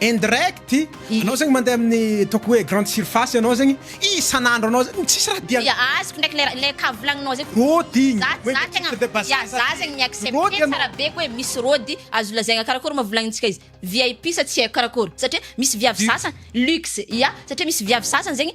Speaker 1: Indirect, anao zegny mandeha amin'ny ataoko hoe grande surface anao zegny isan'andro anao zegny tsisy raha diany. Ya azoko ndraiky le le cas
Speaker 2: volagninao zegny. Rôdy igny, Za hoe za
Speaker 1: tegna titre de bazar ya za
Speaker 2: zany. zegny mi-accepte Rôdy ianao. tsara be hoe misy rôdy azo lazaigna karakôry moa volagnintsika izy VIP sa tsy haiko karakôry satria misy viavy sasany luxe ya satria misy viavy sasany zegny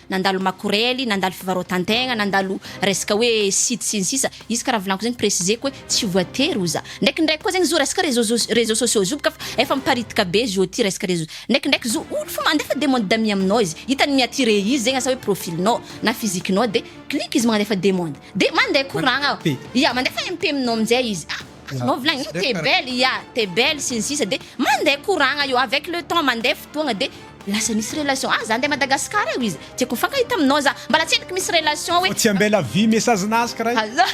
Speaker 2: nandalo makorely, nandalo fivarotan-tegna, nandalo resaka hoe site sy ny sisa, izy karaha volaniko zegny préciseko hoe tsy voatery ho za, ndraikindraiky koa zegny zo resaka réseau soc- réseau sociaux zo bôka fa efa miparitika be zo ty resaka réseau, ndraikindraiky zo olo fô mandefa demande d'amis aminao izy, hitany mi-attirer izy zegny asa hoe profil-nao na physique-nao de clique izy mandefa demande de mande koragna, ya mandefa MP aminao amizay izy, ah. Azonao volagnina hoe t'es belle, ya, t'es belle sy ny sisa de mandeha koragna io, avec le temps mandeha fotoagna de lasa misy relation, ah za andeha Madagascar eo izy tiako hifankahita aminao za, mba latseniky misy relation hoe. Fa tsy ambela vy message
Speaker 1: nazka ray. Azaa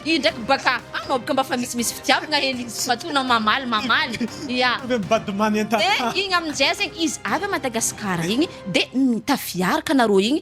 Speaker 2: io ndraiky baka anao baka mba fa misimisy fitiavagna hely izy tsy matoa anao mamaly mamaly, ya. Tonga
Speaker 1: mivady manentana. De igny aminjay zegny
Speaker 2: izy avy a Madagascar igny de tafiaraka nareo igny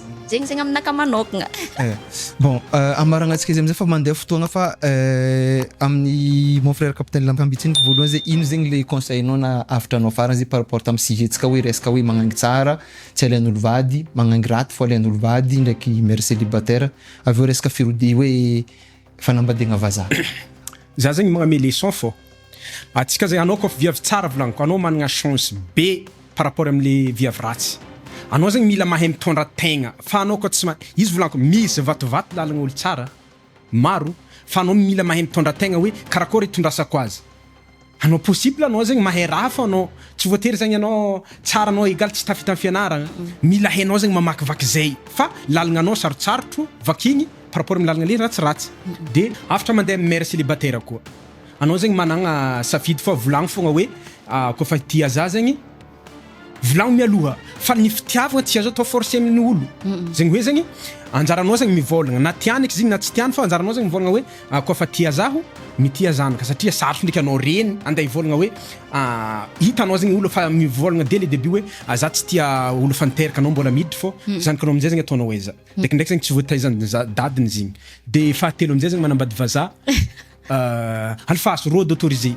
Speaker 2: zegny zegny aminaka manokagna eh, bon
Speaker 3: euh, amaragnantsika izy amizay fa mandeha fotoagna fa euh, amin'ny mon frère capitaine lampambitsiny voalohany zay ino zegny le conseil nao na avitra nao farany zay par rapport tamin'ny sujet-tsika hoe resaka hoe magnangy tsara tsy alain'olo vady magnangy raty fo alain'olo vady ndraiky mère célibataire avy eo resaka firodi- hoe Fanambadiagna vazaha. Za zegny
Speaker 1: magname leçon fô atsika zegny anao kôfa viavy tsara volagniko anao managna chance be par rapport amle viavy ratsy anao zegny mila mahay mitondra tegna fa anao koa tsy ma izy volagniko misy vatovato lalagna olo tsara maro fa anao mila mahay mitondra tegna hoe karakôry itondrasako azy Anao possible anao zegny mahay raha fa anao tsy voatery zegny anao tsara anao egal tsy tafita am fianaragna mila hainao zegny mamakivaky zay fa lalagnanao sarotsarotro vakigny par rapport am lalagna le ratsiratsy de afatra mandeha am mère célibataire koa anao zegny managna safidy fa volagno fogna hoe koa fa tia zah zegny Volagno mialoha fa ny fitiavagna tsy azo atao forcer amin' ny olo, zegny hoe zegny anjaranao zegny mivôlagna na tiany eky zigny na tsy tiany fa anjaranao zegny mivôlagna hoe a koa fa tia zaho mitia zanaka satria sarotro ndraiky anao reny ande hivôlagna hoe a hitanao zegny olo fa mivôlagna dès le debut hoe a za tsy tia olo efa niteraka anao mbola miditry fô zanakanao amizay zegny ataonao aiza, ndraikindraiky zegny tsy voataizan'ny za- dadiny zigny, de fahatelo amizay zegny manambady vazaha. Alfahazo road autorisé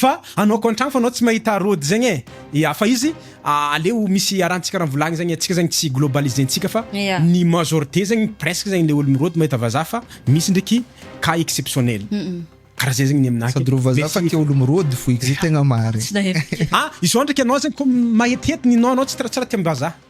Speaker 1: fa anaoko antragno fa anao tsy mahita road zegny e ya fa izy aleo misy arantsika raha volagny zegny atsika zegny tsy globalisé ntsika fa ny majorité zegny presque zegny le olo mirody mahita vazaha fa misy ndreky cas exceptionnel karaha zay zegny ny aminahy sady reo vazaha fa tia olo
Speaker 3: mirody foy zay tegna marigny ah izao ndreky
Speaker 1: anao zegny ko mahetihety ny nom anao tsy raha tia ambazaha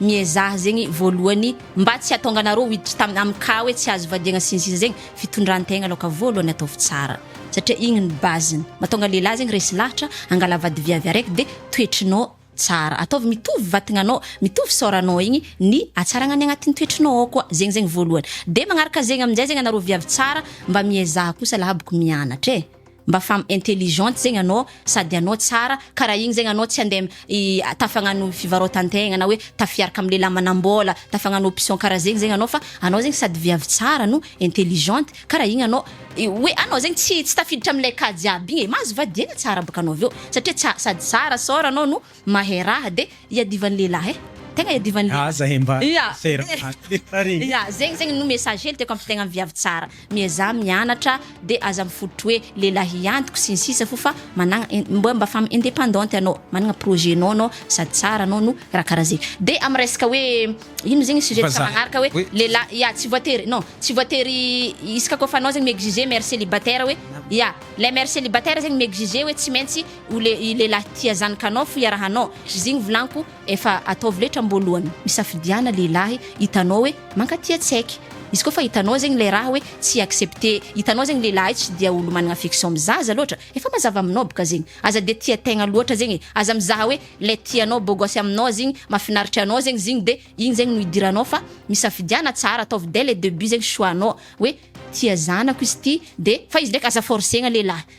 Speaker 2: miezaha zegny voalohany mba tsy atonganareo hiditra tam am cas hoe tsy azo vadiagna sy ny sisa zegny fitondrantegna aloka voalohany ataovy tsara satria igny ny base ny matonga lehilahy zegny resy lahatra angala vady viavy araiky de toetrinao tsara ataovy mitovy vatagnanao mitovy saoranao igny ny atsaragna ny agnatin'ny toetrinao ao koa zegny zegny voalohany de magnaraka zegny amizay zegny anareo viavy tsara mba miezaha kosa laha bôko mianatra e. mba femme intelligente zegny anao sady anao tsara karaha igny zegny anao tsy ande tafagnano fivarotantegna na hoe tafiaraka am lehilahy manambola tafagnano option karaha zegny zegny anao fa anao zegny sady viavy tsara no intelligente karaha igny anao hoe anao zegny tsy tsy tafiditra amle cas jiaby igny e mahazo vadihaina tsara bôka anao aveo satria tsa- sady tsara sôra anao no Mahay raha de iadivan'ny lehilahy eh! Tegna iadivan'ny lehilahy. Aza eh mba
Speaker 1: sera aty. Ya
Speaker 2: zegny zegny no message hely tiako ampitaigna am viavy tsara, miezaha mianatra de aza mifototry hoe lehilahy antoko sy ny sisa fo fa managna mba mba femme independante anao, managna projet nao anao sady tsara anao no raha karaha zegny. De am resaka hoe ino zegny sujet ntsika magnaraka hoe
Speaker 1: lehilahy
Speaker 2: ya tsy
Speaker 3: voatery
Speaker 2: non tsy voatery isaka kaofa anao zegny mi-exiger mère célibataire hoe ya lay mère célibataire zegny mi-exiger hoe tsy maintsy O le i lehilahy tia zanakanao fo iarahanao zigny volanko efa ataovy letra mboalohany misafidiana lehilahy hitanao hoe mankatia tsaiky izy koa fa hitanao zegny lay raha hoe tsy accepte hitanao zegny lehilahy tsy dia olo managna affection am zaza loatra efa mazava aminao boka zegny aza dia tia tegna loatra zegny e aza mizaha hoe lay tianao beau gosse aminao zigny mafinaritra anao zegny zigny de igny zegny no idiranao fa misafidiana tsara ataovy dès le debut zegny choix nao hoe tia zanako izy ty de fa izy ndraiky aza forcegna lehilahy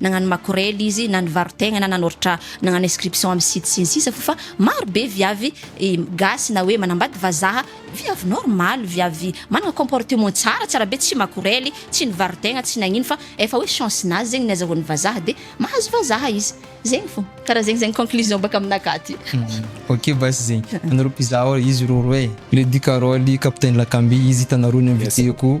Speaker 2: nagnano makorely izy na nivarotegna na nanoratra nagnano inscription amin'ny site sy ny sisa f'fa maro be viavy gasy na hoe manambady vazaha viavy normal viavy managna comportement tsara tsara be tsy makorely tsy nivarotegna tsy nagnino fa efa hoe chance nazy zegny ny azahoan'ny vazaha de mahazo vazaha izy zegny fô karaha zegny zegny conclusion baka aminakahy aty. Ok
Speaker 3: basy zegny anareo mpizaha ô izy rôro e. Lady Carole, Capitaine Lakamby, izy hitanareo ny invité-ko.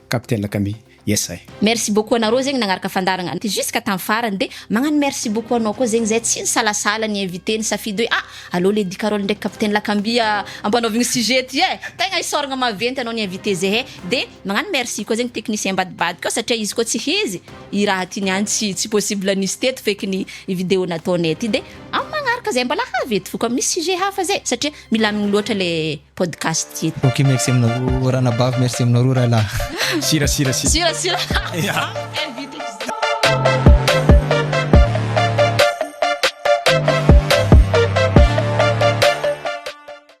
Speaker 1: Capitaine Kami, yes I. Merci beaucoup anareo zegny
Speaker 2: nagnaraka fandaragna ty jusqu'à tam farany de magnano merci beaucoup anao koa zegny zay tsy nisalasala ni inviter nisafidy hoe ah aleo lady carole ndraiky capitaine lakamby ampanaovigny sujet ty eh tegna isaoragna maventy anao ni inviter zehe de magnano merci koa zegny technicien ambadibadika ao satria izy koa tsy hizy i raha ty niany tsy tsy possible nisy teto feky ny i video nataonay ty de am magnaraka zay mbala havy eto foko am misy sujet hafa zay satria Milamigny loatra le podcast ity. Ok merci aminareo
Speaker 3: ranabavy merci aminareo rahalahy. Sira sira sira. Sira sira.